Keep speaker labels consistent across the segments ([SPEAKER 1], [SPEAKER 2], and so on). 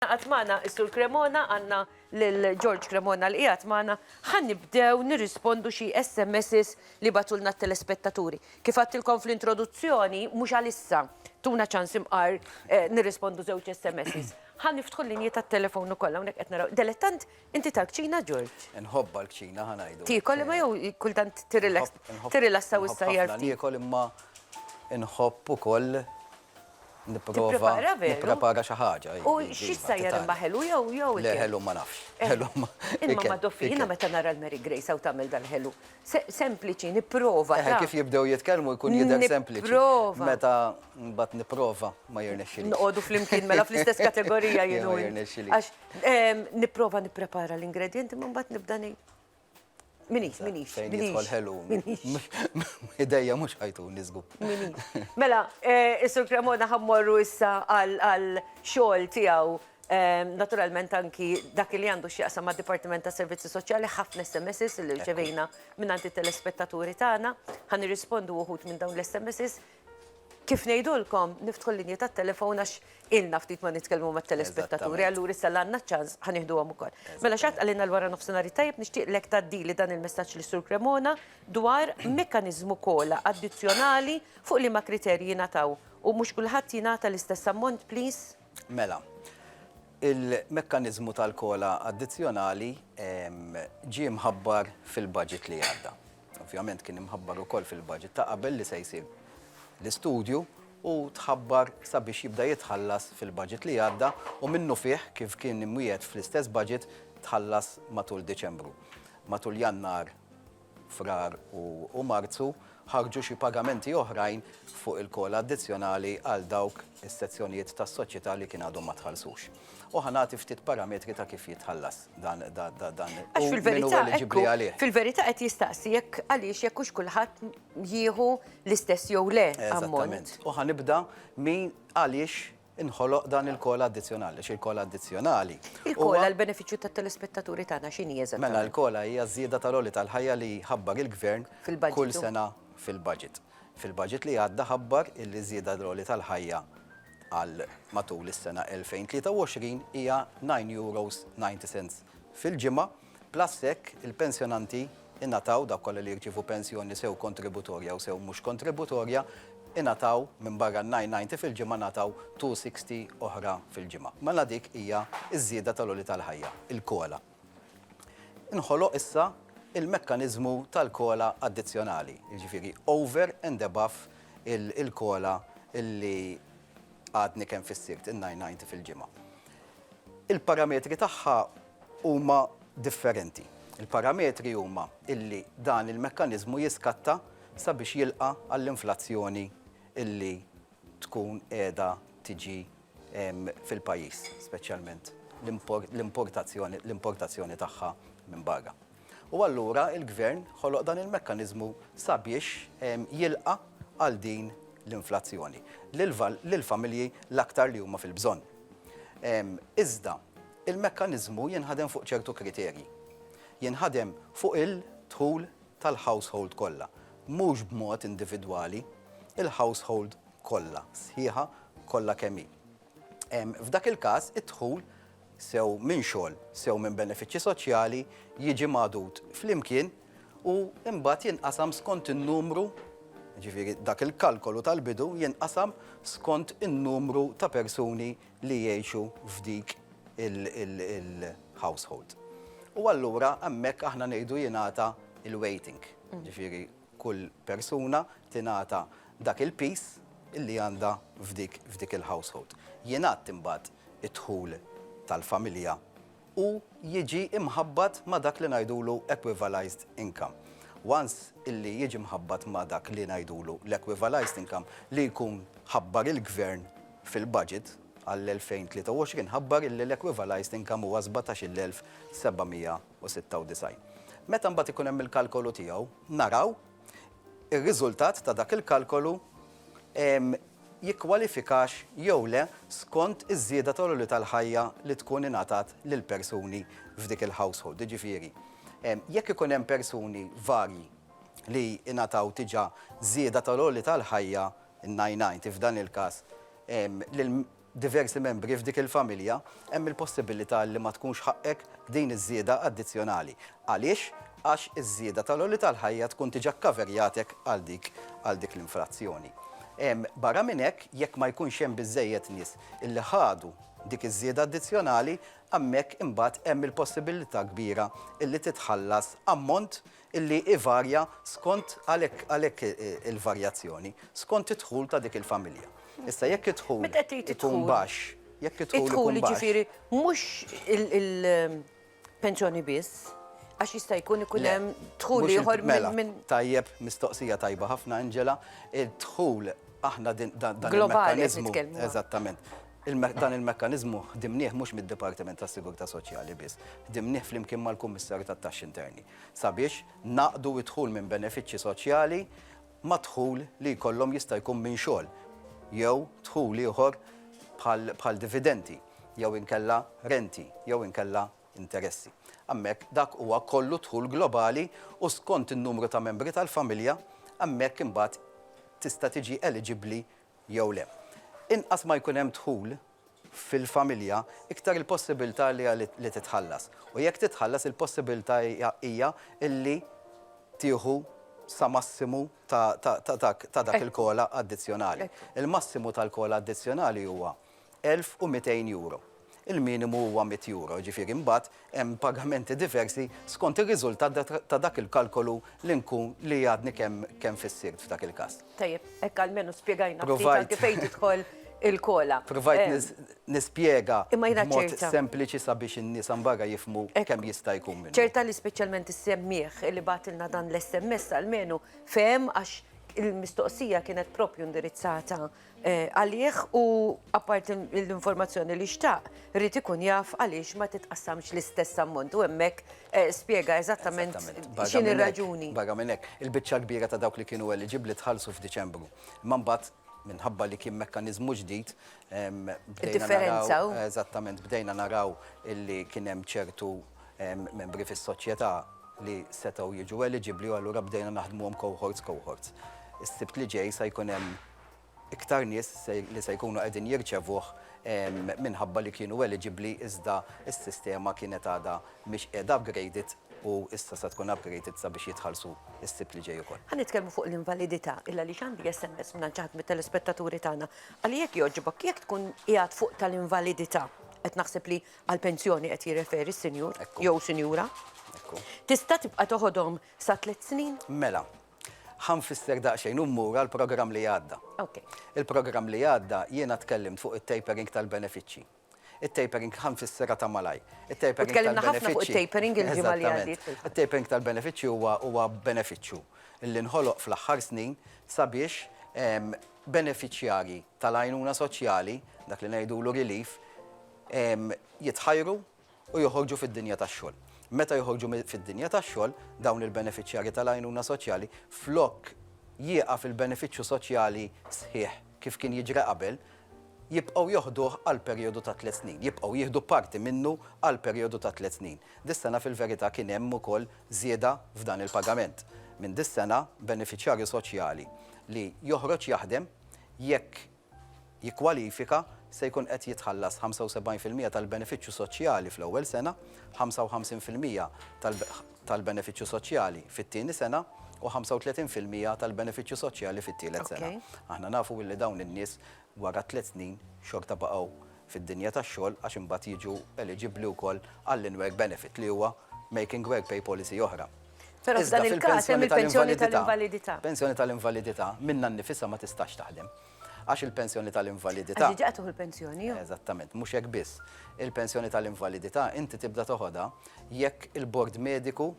[SPEAKER 1] Għad magħna is-Sur Cremona, għandna lil George Cremona li qiegħed magħna. Ħa nibdew nirrispondu xi SMSs li bagħtulna t-telespettaturi. Kif għadtilkom fl-introduzzjoni, mhux għal issa, tuna ċans imqar nirrispondu żewġ SMSs. Ħa niftħu l-linji tat-telefon ukoll, hawnhekk qed naraw. Delettant inti tal-kċina, George? Inħobbha l-kċina, ħa
[SPEAKER 2] ngħidu. Tiekol imma jew
[SPEAKER 1] kultant tirrilassa u ssajjar ftit? Inħobb ħafna niekol imma
[SPEAKER 2] inħobb ukoll Nipprova nipprepara xi ħaġa. U x'issa hija
[SPEAKER 1] l-imma ħelu jew jew. Le ħelu ma nafx.
[SPEAKER 2] Ħelu ma. Imma
[SPEAKER 1] Madoffi jiena meta nara l-Mary Grace hawn tagħmel dal-ħelu. Sempliċi, nipprova. Eħe kif jibdew jitkellmu
[SPEAKER 2] jkun jidher sempliċi. Nipprova. Meta
[SPEAKER 1] mbagħad
[SPEAKER 2] nipprova ma jirnexxilix. Noqogħdu flimkien mela
[SPEAKER 1] fl-istess kategorija jien u int. Għax nipprova nipprepara l-ingredjenti imma mbagħad nibda ngħid. Minix, minix. Fejn jidħol
[SPEAKER 2] ħelu. Idejja mux ħajtu nizgu. Mela,
[SPEAKER 1] eh, Isur Cremona ħammorru issa għal xol tijaw ehm, naturalment anki dak li għandu xieqsa ma' Dipartiment ta' Servizzi Soċjali ħafna SMS li rċevejna minn għanti telespettaturi tagħna, ħan irrispondu uħut minn dawn l-SMS Kif ngħidulkom, niftħu l-linji tat-telefon għax ilna ftit ma nitkellmu mat-telespettaturi, allura issa li għandna ċ-ċans ħa nieħduhom ukoll. Mela x'għad qalilna l-wara nofsinhar it-tajjeb nixtieqlek tgħaddili dan il-messaġġ lis-Sur Cremona dwar mekkaniżmu COLA addizzjonali fuq liema kriterji jingħataw u mhux kulħadd jingħata l-istess ammont please? Mela,
[SPEAKER 2] il-mekkaniżmu tal-COLA addizzjonali ġie mħabbar fil-budget li għadda. Ovvjament kien imħabbar ukoll fil-budget ta' qabel li se jsir l-istudju u tħabbar sabiex jibda jitħallas fil-budget li għadda u minnufih kif kien imwiegħed fl-istess budget tħallas matul Diċembru. Matul Jannar, Frar u Marzu ħarġu xi pagamenti oħrajn fuq il-COLA addizzjonali għal dawk is-sezzjonijiet tas-soċjetà li kien għadhom ma tħallsux. U ħa nagħti ftit parametri ta' kif jitħallas. dan dan Għax
[SPEAKER 1] fil-verità fil-verità qed jistaqsi jekk għaliex jekk hux kulħadd jieħu l-istess jew le ammont. U ħanibda
[SPEAKER 2] min għaliex inħoloq dan il-kol addizzjonali, xi kol addizzjonali. Il-kola l-benefiċċju
[SPEAKER 1] tat-telespettaturi tagħna x'inhi eżatt. Mela l-kola hija żieda
[SPEAKER 2] tal-oli tal-ħajja li ħabbar il-gvern kull sena fil-budget. Fil-budget li għadda ħabbar il-żieda tal-oli tal-ħajja għal matul is-sena 2023 hija €9.90 fil-ġimgħa, plus hekk il-pensjonanti ingħataw, dawk kollha li jirċievu pensjoni sew kontributorja u sew mhux kontributorja, ingħataw minbarra n-9.90 fil-ġimgħa ngħataw €2.60 oħra fil-ġimgħa. Mela dik hija ż-żieda tal-għoli tal-ħajja, il-COLA. Inħoloq issa il-mekkaniżmu tal-COLA addizzjonali, jiġifieri over and above il-COLA li għadni kemm fissirt, in-990 fil-ġimgħa. Il-parametri tagħha huma differenti. Il-parametri huma li dan il-mekkaniżmu jiskatta sabiex jilqa' għall-inflazzjoni li tkun qiegħda tiġi fil-pajjiż, speċjalment l-importazzjoni tagħha minn barra. U allura l-Gvern ħoloq dan il-mekkaniżmu sabiex jilqa' għal din l-inflazzjoni lill-familji l-aktar li huma fil-bżonn. Iżda l-mekkaniżmu jinħadem fuq ċertu kriterji. Jinħadem fuq il-dħul tal-household kollha, mhux b'mod individwali, il-household kollha, sħiħa kollha kemm hi. F'dak il-każ, id-dħul, sew minn xogħol, sew minn benefiċċji soċjali, jiġi magħdud flimkien u mbagħad jinqasam skont in-numru, jiġifieri dak il-kalkolu tal-bidu jinqasam skont in-numru ta' persuni li jgħixu f'dik il-household. U allura hemmhekk aħna ngħidu jingħata l-weighting, jiġifieri Kull persuna tingħata dak il-piż li għandha f'dik il-household. Jingħadd imbagħad id-dħul tal-familja u jiġi mħabbat ma' dak li ngħidulu equivalized income. Once illi jiġi mħabbat ma' dak li ngħidulu l-equivalized income li jkun ħabbar il-Gvern fil-Budget għall-2023 ħabbar illi l-equivalized income huwa 17,700. u 96. Meta mbagħad ikun hemm il-kalkolu tiegħu, naraw ir-riżultat ta' dak il-kalkolu jikkwalifikax jew le skont iż-żieda tal-għoli tal-ħajja li tkun ingħatat lill-persuni f'dik il-household. Jiġifieri, jekk ikun hemm persuni varji li ingħataw diġà żieda tal-għoli tal-ħajja, in-990 f'dan il-każ, diversi membri f'dik il-familja, hemm il-possibilità li ma tkunx ħaqqek din iż-żieda addizzjonali. Għaliex? Għax iż-żieda tal-għoli tal-ħajja tkun diġà kkaverjatek għal dik għal dik l-infrazzjoni. Barra minn hekk, jekk ma jkunx hemm biżżejjed nies li ħadu dik iż-żieda addizzjonali, hemmhekk imbagħad hemm il-possibilità kbira li titħallas ammont illi jvarja skont, għalhekk għalhekk il-varjazzjoni, skont id-dħul ta' dik il-familja. Issa jekk id-dħul Meta qed tgħid id-dħul ikun baxx, jekk id-dħul ikun baxx. Id-dħul jiġifieri mhux
[SPEAKER 1] il-pensjoni biss, għax jista' jkun ikun hemm dħul ieħor minn Mela, tajjeb, mistoqsija
[SPEAKER 2] tajba ħafna Angela, id-dħul aħna din dan il-mekkaniżmu Globali qed nitkellmu.
[SPEAKER 1] Eżattament.
[SPEAKER 2] Il-me- Dan il-mekkaniżmu ħdimnieh mhux mid-Dipartiment tas-Sigurtà Soċjali biss, ħdimnieh flimkien mal-Kummissarju tat-Taxxi Interni. sabiex ngħaqqdu d-dħul minn benefiċċji soċjali mad-dħul li jkollhom jista' jkun minn xogħol jew dħul ieħor bħal dividendi jew inkella renti jew inkella interessi. Hemmhekk dak huwa kollu d-dħul globali u skont in-numru ta' membri tal-familja hemmhekk imbagħad tista' tiġi eliġibbli jew le. Inqas ma jkun hemm dħul fil-familja, iktar il-possibilità li hija li titħallas. U jekk titħallas, il-possibilità hija li tieħu sa massimu ta' dak il-COLA addizzjonali. Il-massimu tal-COLA addizzjonali huwa €1,200. Il-minimu huwa €100, jiġifieri mbagħad hemm pagamenti diversi skont ir-riżultat ta' dak il-kalkolu li nkun, li għadni kemm kemm fissirt f'dak il-każ. Tajjeb, hekk almenu
[SPEAKER 1] spjegajna ftit anke fejn tidħol il-kola. Provajt
[SPEAKER 2] nispjega b'mod sempliċi sabiex in-nies hemm barra jifhmu kemm jista' jkun minnu. Ċerta li speċjalment
[SPEAKER 1] is-semmiegħ li bagħatilna dan l-SMS almenu fehem għax il-mistoqsija kienet proprju indirizzata għalih u apparti l-informazzjoni li xtaq, irid ikun jaf għaliex ma titqassamx l-istess ammont u hemmhekk spjega eżattament x'inhi r-raġuni. Barra minn hekk, il-biċċa
[SPEAKER 2] l-kbira ta' dawk li kienu eliġibbli tħallsu f'Diċembru. Imma mbagħad, minħabba li kien mekkaniżmu ġdid, bdejna naraw, eżattament, bdejna naraw li kien hemm ċertu membri fis-soċjetà li setgħu jiġu eliġibbli u allura bdejna naħdmuhom cohorts cohorts. Is-Sibt li ġej se jkun hemm iktar nies li se jkunu qegħdin jirċevuh minħabba li kienu eliġibbli iżda s-sistema kienet għadha mhix qiegħda upgraded u issa se tkun upgraded sabiex jitħallsu s-Sibt li ġej ukoll. Ħa nitkellmu fuq l-invalidità
[SPEAKER 1] il għaliex għandi SMS mingħand xi ħadd mit-telespettaturi tagħna. Ali jekk jogħġbok jekk tkun qiegħed fuq tal-invalidità, qed naħseb li għall-pensjoni qed jirreferi s-sinjur jew sinjura, tista' tibqa' toħodhom sa tliet snin? Mela,
[SPEAKER 2] Ħa nfisser daqsxejn u mmur għall-programm li għadda. Il-programm li għadda jiena tkellimt fuq it-tapering tal-benefiċċji. It-tapering, ħa nfisserha ta' malajr. It-tapering tal-benefiċċji.
[SPEAKER 1] U tkellimna ħafna fuq it-tapering il-ġimgħa li għaddiet. It-tapering tal-benefiċċji
[SPEAKER 2] huwa benefiċċju li nħoloq fl-aħħar snin sabiex benefiċjarji tal-għajnuna soċjali, dak li ngħidulu relief, jitħajru u joħorġu fid-dinja tax-xogħol. Meta joħorġu fid-dinja tax-xogħol, dawn il-benefiċjarji tal-għajnuna soċjali, flok jieqaf il-benefiċċju soċjali sħiħ kif kien jiġri qabel, jibqgħu joħduh għal perijodu ta' tliet snin, jibqgħu jieħdu parti minnu għal perijodu ta' tliet snin. Dis-sena fil-verità kien hemm ukoll żieda f'dan il-pagament. Minn dis-sena, benefiċjarju soċjali li joħroġ jaħdem, jekk jikkwalifika se jkun qed jitħallas 75 fil-mija tal-benefiċċju soċjali fl-ewwel sena, 55 fil-mija tal-benefiċċju soċjali fit-tieni sena u 35 fil-mija tal-benefiċċju soċjali fit-tielet sena. Aħna nafu li dawn in-nies wara tliet snin xorta baqgħu fid-dinja tax-xogħol għax imbagħad jiġu eliġibbli wkoll għall-in-work benefit li huwa making work pay policy oħra. Però f'dan
[SPEAKER 1] il-każ hemm il-pensjoni tal-invalidità. Pensjoni tal-invalidità
[SPEAKER 2] minnha nnifisha ma tistax taħdem. Għax il-pensjoni tal-invalidità. Għax diġà tuħu l-pensjoni
[SPEAKER 1] jew? Eżattament, mhux hekk
[SPEAKER 2] biss. Il-pensjoni tal-invalidità inti tibda toħodha jekk il-bord mediku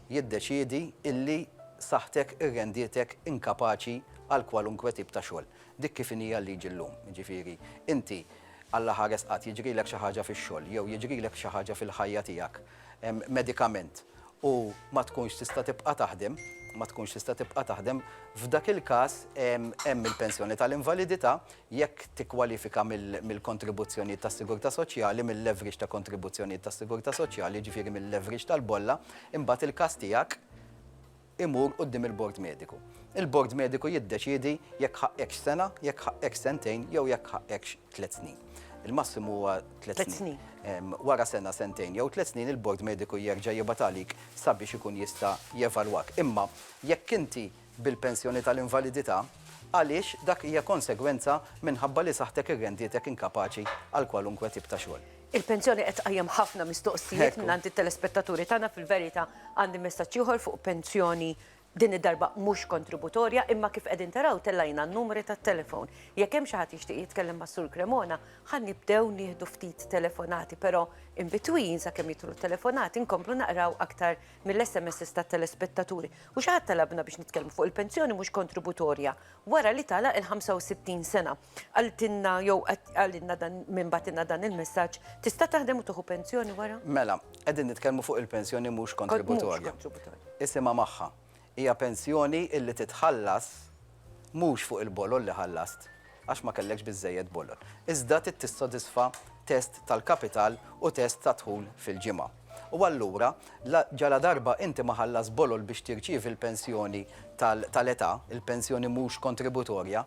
[SPEAKER 2] jiddeċiedi illi saħħtek irrendietek inkapaċi għal kwalunkwe tip ta' xogħol. Dik kif inhi l-liġi llum. Jiġifieri, inti Alla ħares qatt jiġrilek xi ħaġa fix-xogħol jew jiġrilek xi ħaġa fil-ħajja tiegħek medikament u ma tkunx tista' tibqa' taħdem, ma tkunx tista' tibqa' taħdem, f'dak il-każ hemm il-pensjoni tal-invalidità jekk tikkwalifika mill-kontribuzzjonijiet tas-sigurtà soċjali, mill-leverage ta' kontribuzzjonijiet tas-sigurtà soċjali, jiġifieri mil-leverage tal-bolla, imbagħad il-każ tiegħek imur quddiem il-bord mediku. Il-bord mediku jiddeċiedi jekk ħaqqekx sena, jekk ħaqqekx sentejn jew jekk ħaqqekx tliet snin. Il-massimu huwa tliet snin. Wara sena, sentejn jew tliet snin il-bord mediku jerġa' jibgħat għalik sabiex ikun jista' jevalwak. Imma jekk inti bil-pensjoni tal-invalidità għaliex dak hija konsegwenza minħabba li saħħtek irrendietek inkapaċi għal kwalunkwe tip ta' xogħol. Il-pensjoni qed tqajjem
[SPEAKER 1] ħafna mistoqsijiet mingħand it-telespettaturi tagħna fil-verità għandi messaġġ ieħor fuq pensjoni din id-darba mhux kontributorja imma kif qegħdin taraw tellajna n-numri tat-telefon. Jekk hemm xi ħadd jixtieq jitkellem mas-Sur Cremona ħa nibdew nieħdu ftit telefonati però in between sakemm jidħlu t-telefonati nkomplu naqraw aktar mill-SMSs tat-telespettaturi u xi ħadd talabna biex nitkellmu fuq il-pensjoni mhux kontributorja wara li tagħlaq il-65 sena. Qaltilna jew qalilna dan min bagħtilna dan il-messaġġ, tista' taħdem u tieħu pensjoni wara? Mela, qegħdin nitkellmu
[SPEAKER 2] fuq il-pensjoni mhux kontributorja. Isimha magħha. Hija pensjoni illi titħallas mhux fuq il-bolol li ħallast, għax ma kellekx biżżejjed bolol, iżda trid tissodisfa test tal-kapital u test tad-dħul fil-ġimgħa. U allura, ġaladarba inti ma ħallas bolol biex tirċievi l-pensjoni tal-età, il-pensjoni mhux kontributorja,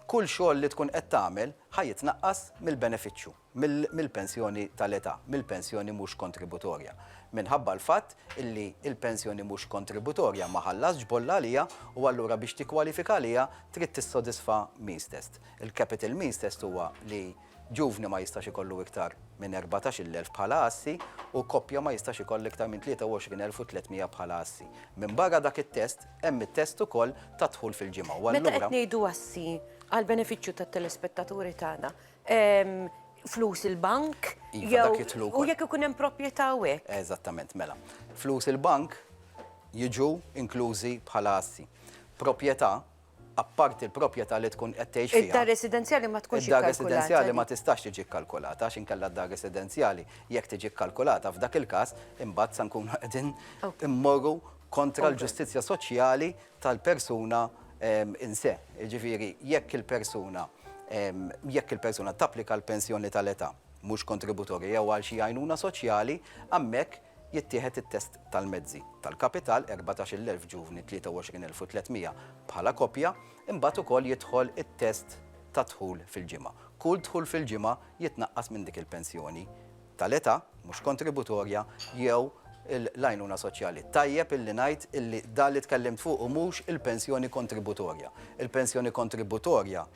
[SPEAKER 2] kull xogħol li tkun qed tagħmel ħa jitnaqqas mill-benefiċċju. mill-pensjoni tal-età, mill-pensjoni mhux kontributorja, minħabba l-fatt illi l-pensjoni mhux kontributorja ma ħallasx bolla għaliha u allura biex tikkwalifika għaliha trid tissodisfa means test. Il-capital means test huwa li ġuvni ma jistax ikollu iktar minn erbatax-il elf bħala assi u koppja ma jistax ikollha iktar minn tlieta u għoxrin elf u tliet mija bħala assi. Minbarra dak it-test, hemm it-test ukoll tad-dħul fil-ġimgħa u allura. Meta qed ngħidu
[SPEAKER 1] assi, għall-benefiċċju tat-telespettaturi tagħna, flus il-bank, jew u jekk ikun hemm proprjetà u hekk. Eżattament, mela.
[SPEAKER 2] Flus il-bank jiġu inklużi bħala assi. Proprjetà, apparti l-proprjetà li tkun qed tgħix fiha. Id-dar residenzjali ma tkunx
[SPEAKER 1] ikkalkulata. Id-dar residenzjali ma tistax
[SPEAKER 2] tiġi kkalkulata għax inkella d-dar residenzjali jekk tiġi kkalkulata f'dak il-każ imbagħad se nkunu qegħdin immorru kontra l-ġustizzja soċjali tal-persuna in se, jiġifieri jekk il-persuna jekk il-persuna tapplika għal pensjoni tal-età mhux kontributorja jew għal xi għajnuna soċjali, hemmhekk jittieħed it-test tal-mezzi, tal-kapital, 14-il elf ġuvni, 23 elf u 300 bħala koppja, imbagħad ukoll jidħol it-test tad-dħul fil-ġimgħa. Kull dħul fil-ġimgħa jitnaqqas minn dik il-pensjoni tal-età, mhux kontributorja, jew l-għajnuna soċjali. Tajjeb illi ngħid illi dan li tkellimt fuqu mhux il-pensjoni kontributorja. Il-pensjoni kontributorja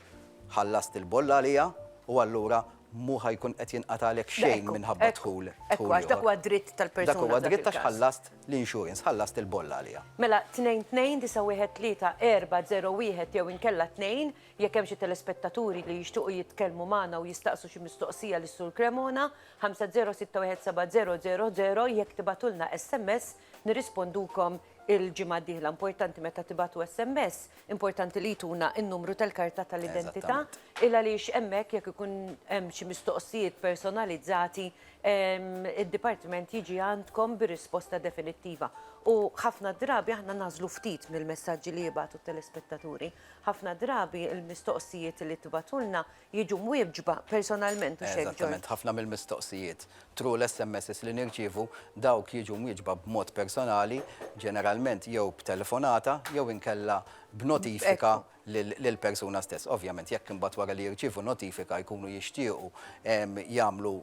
[SPEAKER 2] ħallast il-bolla għaliha u allura mhu ħa jkun qed jinqatagħlek xejn minħabba dħul ieħor. Ekku, għax dak huwa dritt
[SPEAKER 1] tal-persuna. Dak huwa dritt għax ħallast
[SPEAKER 2] l-insurance, ħallast il-bolla għaliha. Mela 229-340-1
[SPEAKER 1] jew inkella 2. Jekk hemm xi telespettaturi li jixtuqu jitkellmu magħna u jistaqsu xi mistoqsija lis-Sur Cremona, 50617000, jekk tibagħtulna sms nirrispondukom il-ġimgħa d-dieħla. Importanti meta tibagħtu sms, importanti li jtuna n-numru tal-karta tal-identità, il għaliex hemmhekk jekk ikun hemm xi mistoqsijiet personalizzati, id-dipartiment jiġi għandkom bir-risposta definittiva. U ħafna drabi aħna nagħżlu ftit mill-messaġġi li jibagħtu t-telespettaturi. Ħafna drabi l-mistoqsijiet li tibgħatulna jiġu mwieġba personalment, hux hekk George? Eżattament, ħafna mill-mistoqsijiet
[SPEAKER 2] through l-SMSs li nirċievu, dawk jiġu mwieġba b'mod personali, ġeneralment jew b'telefonata jew inkella b'notifika lill-persuna stess. Ovvjament, jekk imbagħad wara li jirċievu notifika jkunu jixtiequ jagħmlu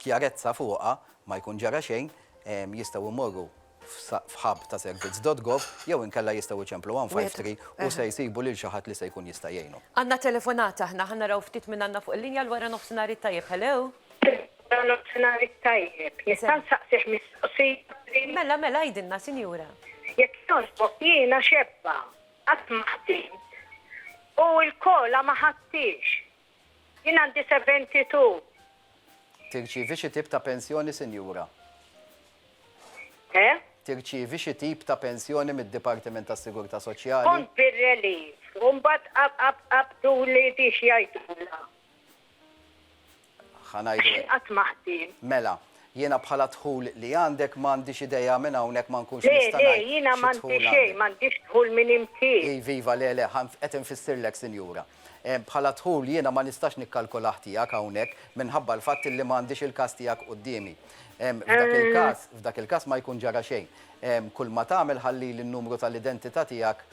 [SPEAKER 2] kjarezza fuqha, ma jkun ġara xejn, jistgħu jmorru f'hub ta' servizz dot gov jew inkella jistgħu jċemplu 153 u se jsibu lil xi ħadd li se jkun jista' jgħinhom. Għandna telefonata
[SPEAKER 1] aħna, ħa naraw ftit min għandna fuq il-linja l-wara nofsinhar it-tajjeb, hello? Wara nofsinhar
[SPEAKER 3] it-tajjeb, nista' nsaqsih mistoqsija? Mela, mela, għidilna
[SPEAKER 1] sinjura. Jekk jogħġbok
[SPEAKER 3] jiena xebba, qatt ma ħdimt u l-kola ma ħadthiex, Jien għandi 72.
[SPEAKER 2] Tirċievi xi tip ta' pensjoni, Sinjura? Eh? Tirċievi xi tip ta' pensjoni mid-Dipartiment tas-Sigurtà Soċjali? Kont bir-relief
[SPEAKER 3] u mbagħad qabduli di x'jgħidulha.
[SPEAKER 2] Ħa ngħidu hekk. Qatt ma ħdiem.
[SPEAKER 3] Mela, jiena
[SPEAKER 2] bħala d-dħul li għandek m'għandix idea minn hawnhekk ma nkunx nista' ngħid xi dħul għandek. Le, le, jiena
[SPEAKER 3] m'għandi xejn, m'għandix dħul minn imkien. Iva, iva, le, le,
[SPEAKER 2] qed infissirlek, Sinjura. Bħala dħul jiena ma nistax nikkalkulah tiegħek hawnhekk minħabba l-fatt illi ma għandix il-każ tiegħek quddiemi. F'dak il-każ, f'dak il-każ ma jkun ġara xejn. Kulma tagħmel ħallili n-numru tal-identità tiegħek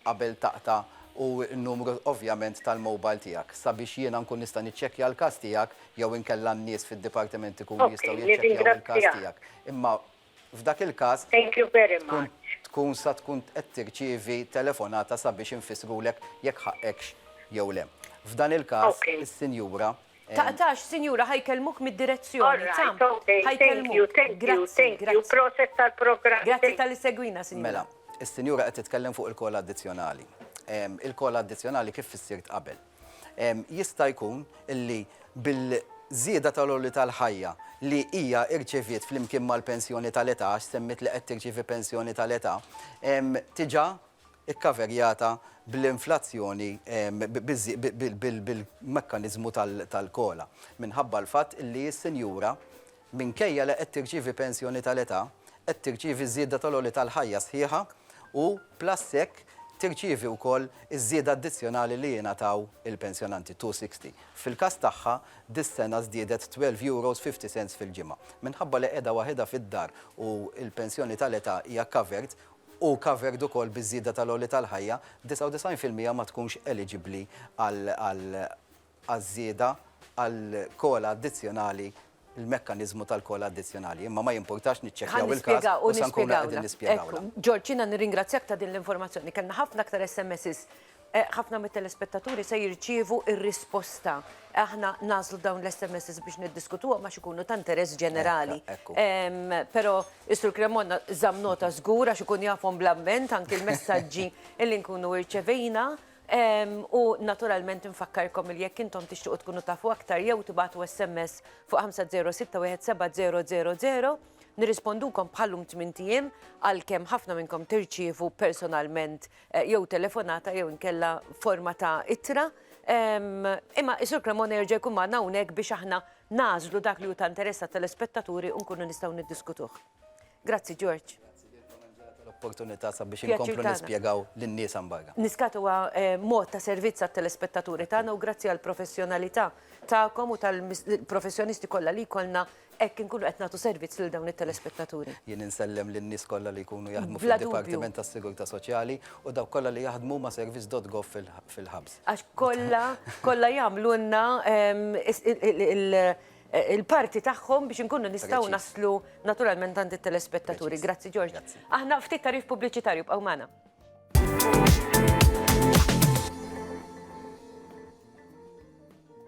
[SPEAKER 2] qabel taqta' u n-numru ovvjament tal-mobile tiegħek sabiex jiena nkun nista' niċċekkja l-każ tiegħek jew inkella n-nies fid-dipartiment ikunu jistgħu jiċċekkjaw il-każ tiegħek. Imma F'dak il-każ, tkun
[SPEAKER 3] tkun sa tkun
[SPEAKER 2] qed tirċievi telefonata sabiex infissrulek jekk ħaqqekx jew le. F'dan il-każ, is-sinjura. Taqtax,
[SPEAKER 1] sinjura, ħa jkellmuk mid-direzzjoni.
[SPEAKER 3] Tam,
[SPEAKER 1] ħa
[SPEAKER 3] jkellmuk. Grazzi, grazzi. Grazzi talli segwina,
[SPEAKER 1] sinjura. Mela, is-sinjura
[SPEAKER 2] qed titkellem fuq il-kola addizzjonali. Il-kola addizzjonali kif fissirt qabel. Jista' jkun li bil-żieda tal-għoli tal-ħajja li hija rċeviet flimkien mal-pensjoni tal-età, għax semmiet li qed tirċievi pensjoni tal-età, tiġa kkaverjata bl-inflazzjoni bil-mekkaniżmu tal-COLA, minħabba l-fatt li s-sinjura Minkejja li qed tirċievi pensjoni tal-età, qed tirċievi ż-żieda tal-għoli tal-ħajja sħiħa u, plus hekk, tirċievi wkoll iż-żieda addizzjonali li jingħataw il-pensjonanti, two sixty. Fil-każ tagħha, dis-sena żdiedet twelve euros fifty cents fil-ġimgħa. Minħabba li qiegħda waħidha fid-dar u l-pensjoni tal-età hija covered, u covered ukoll biż-żieda tal-għoli tal-ħajja, disgħa u disgħin fil-mija ma tkunx eliġibbli għal għaż-żieda għall-kola addizzjonali, il-mekkaniżmu tal-kola addizzjonali. Imma ma jimpurtax niċċekkjaw il-każ u sa nkunu qegħdin nispjegawlek. Ħa nispjegawlek u nispjegawlek. Ekku, George, jiena nirringrazzjak
[SPEAKER 1] ta' din l-informazzjoni. Kellna ħafna aktar SMSs. Ħafna mit-telespettaturi se jirċievu r-risposta. Aħna nagħżlu dawn l-SMSs biex niddiskutuhom għax ikunu ta' interess ġenerali. Però s-Sur Cremona żamm nota żgur għax ikun jafhom bl-amment anki l-messaġġi li nkunu rċevejna. U naturalment infakkarkom li jekk intom tixtiequ tkunu tafu aktar jew tibatu SMS fuq 50617000 nirrispondukom bħallum 8 ijiem għalkemm ħafna minnkom tirċievu personalment eh, jew telefonata jew inkella forma ta' ittra. Imma Isur Cremona jerġa' jkun magħna hawnhekk biex aħna nażlu dak li hu ta' interess telespettaturi u nkunu nistgħu niddiskutuh. Grazzi George.
[SPEAKER 2] opportunità sabiex inkomplu nispjegaw lin-nies hemm barra. Niskat huwa eh,
[SPEAKER 1] mod ta' servizz għat-telespettaturi tagħna u grazzi għall professjonalità tagħkom u tal-professjonisti kollha li jkollna hekk inkunu qed nagħtu servizz lil dawn it-telespettaturi. Jien insellem lin-nies
[SPEAKER 2] kollha li jkunu jaħdmu fid-Dipartiment tas-Sigurtà Soċjali u dawk kollha li jaħdmu ma' service.gov fil-ħabs. Għax kollha
[SPEAKER 1] kollha jagħmlulna ehm, il-parti tagħhom biex inkunu nistgħu naslu naturalment għand it-telespettaturi. Grazzi George. Aħna ftit tarif pubbliċitarju bqgħu magħna.